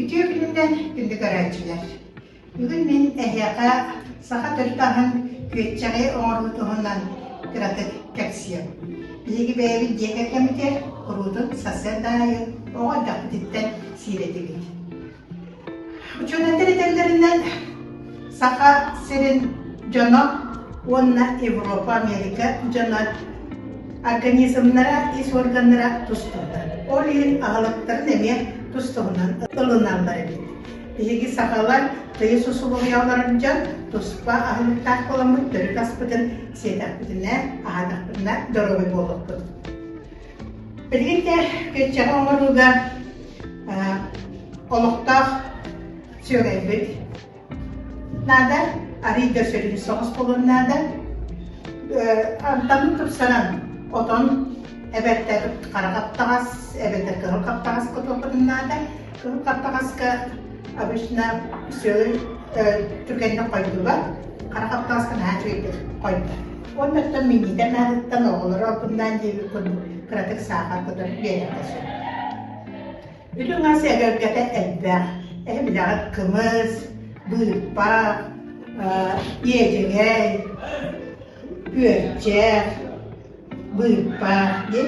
Үтүө күнүнэн күндү көрөөччүлэр! Бүгүн мин эһиэхэ саха төрүт аһын күөччэҕи оҥоруу туһунан кыратык кэпсиэм. Биһиги бэйэбит дьиэ кэргэммитэ куруутун сарсыарда аайы оҕо эрдэхпититтэн сиирэтибит. Учуонаттар этэллэринэн, Саха сирин дьоно уонна Европа, Америка дьоно организмнара, ис органнара тустуута. Ол иһин аһылыктарын эмиэ тустуһунан ылыналлар эбит. Биһиги сахалар тыйыс усулуобуйаларын дьон туспа аһылыктаах буоламмыт төрүт аспытын сиэтэхпитинэ, аһатахпытына доруобай буолуохпут. Билигин да күччэҕи оҥорууга олохтоох сүөгэйбит наада, арыый да сүрүн соҕус болун наада. Антамын тупсаран, отон эбэттэр хара хаптаҕас, эбэтэр кыһыл хаптаҕас кототурун наада. Кыһыл хаптаҕаска обычно сүөгэй түргэнник хойдуулар, хара хаптаҕаска наһаа үчүгэйдик хойдулар. Уоннартан минньитэ анаарыттан оҕолору албыннаан диэбит курдук кыратык саахар кутан биэриэххэ сөп. Үрүҥ ас эгэлгэтэ элбэх. Эһиллэҕэр кымыс, быырпах, иэдьэгэй, күөрчэх, быырпах дии.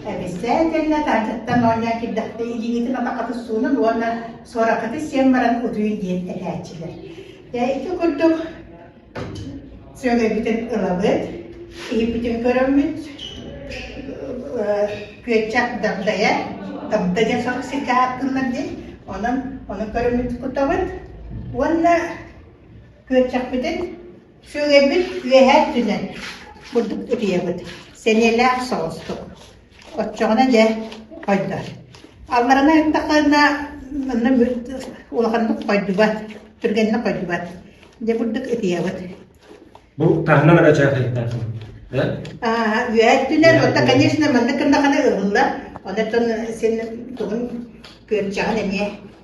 Эбисэ итиэннэ таатыттан оонньоон киирдэхпэ илииҥитин атаххытын суунан уонна суораххытын сиэн баран утуйуй диэн этээччилэр. Дьэ ити курдук сүөгэйбитин ылабыт, иһиппитин көрөммүт, күөччэх дагдайа, дагда диэн сорох сиргэ ааттыыллар диэн, онон ону көрөммүт кутабыт уонна күөччэхпитин Сүөгэйбит үөһэ өттүнэн бурдук утуйабыт, сэниэлээх соҕустук. Оччоҕуна дьэ хойдор. Аллараны ыттахтарына манна улаханнык хойдубат, түргэнник хойдубат. Дьэ бурдук ытыйабыт. Бу таһынан эрэ дьаахайдаахым. Аа, үөһэ өттүнэн, оттон конечно маннык гыннахына ыһылла, онтон син тугун күөрчэҕин эмиэ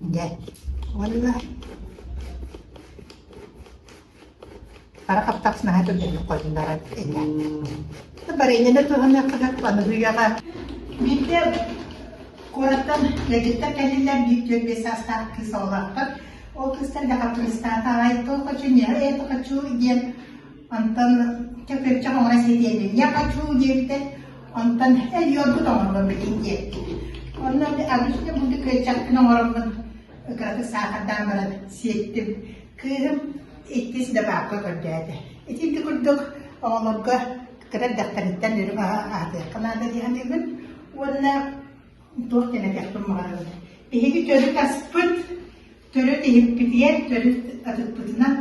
Дьэ, уонна хара хаптаҕас наһаа түргэнник хойуннаран этэ. Барыйыаны туһаныаххына аныһыйаҕа. Биирдэ куораттан ыалдьыттар кэллилэр, биир дьөлбүө саастаах кыыс оҕолоохтор. Ол кыыстар да хаппыыстаата, «Ай, то хочу, не, это хочу» диэн Онтон көкүрчэх оҥоро ситиэтин я хочу диэбитэ, онтон өлүөрбут оҥоролор билин диэбитин. Онон обычно буду көлчөхпүн оҥороммун кыратык саахардаан баран сиэттим. Кыыһым иккис да баапка көрдөөтө. Итинти курдук оҕолорго кыра дьахтарыттан үрү аатыахха наада дии саныыбын уонна туох генетиэх туммаҕарабыт. Биһиги төрүт аспыт Төрүт иһиппитигэр төрүт атыкпытынан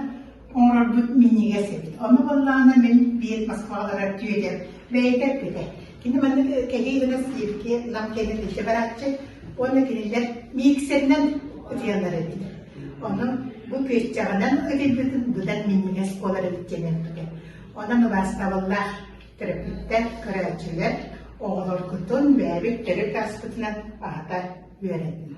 оҥорорбут минньигэс эбит. Ону баллаана мин биир Москваларар түөдэр бэйэтэ эппитэ. Кини манна кэлии гына сииргэ лам кэнэ тише барааччы уонна кинилэр миксеринэн ытыйанар эбитэ. Ону бу күөччэҕинэн ытыйбытын быдан минньигэс буолар эбит диэн эппитэ. Онон убаастабыллаах төрөппүттэр, көрөөччүлэр оҕолоргутун бэйэбит төрүт ааспытынан аһата үөрэтин.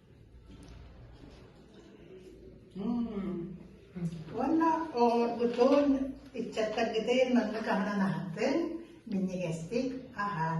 Уонна оҕолоргутун, ыччаттаргытын маннык аһынан аһатыҥ, минньигэстик аһаан.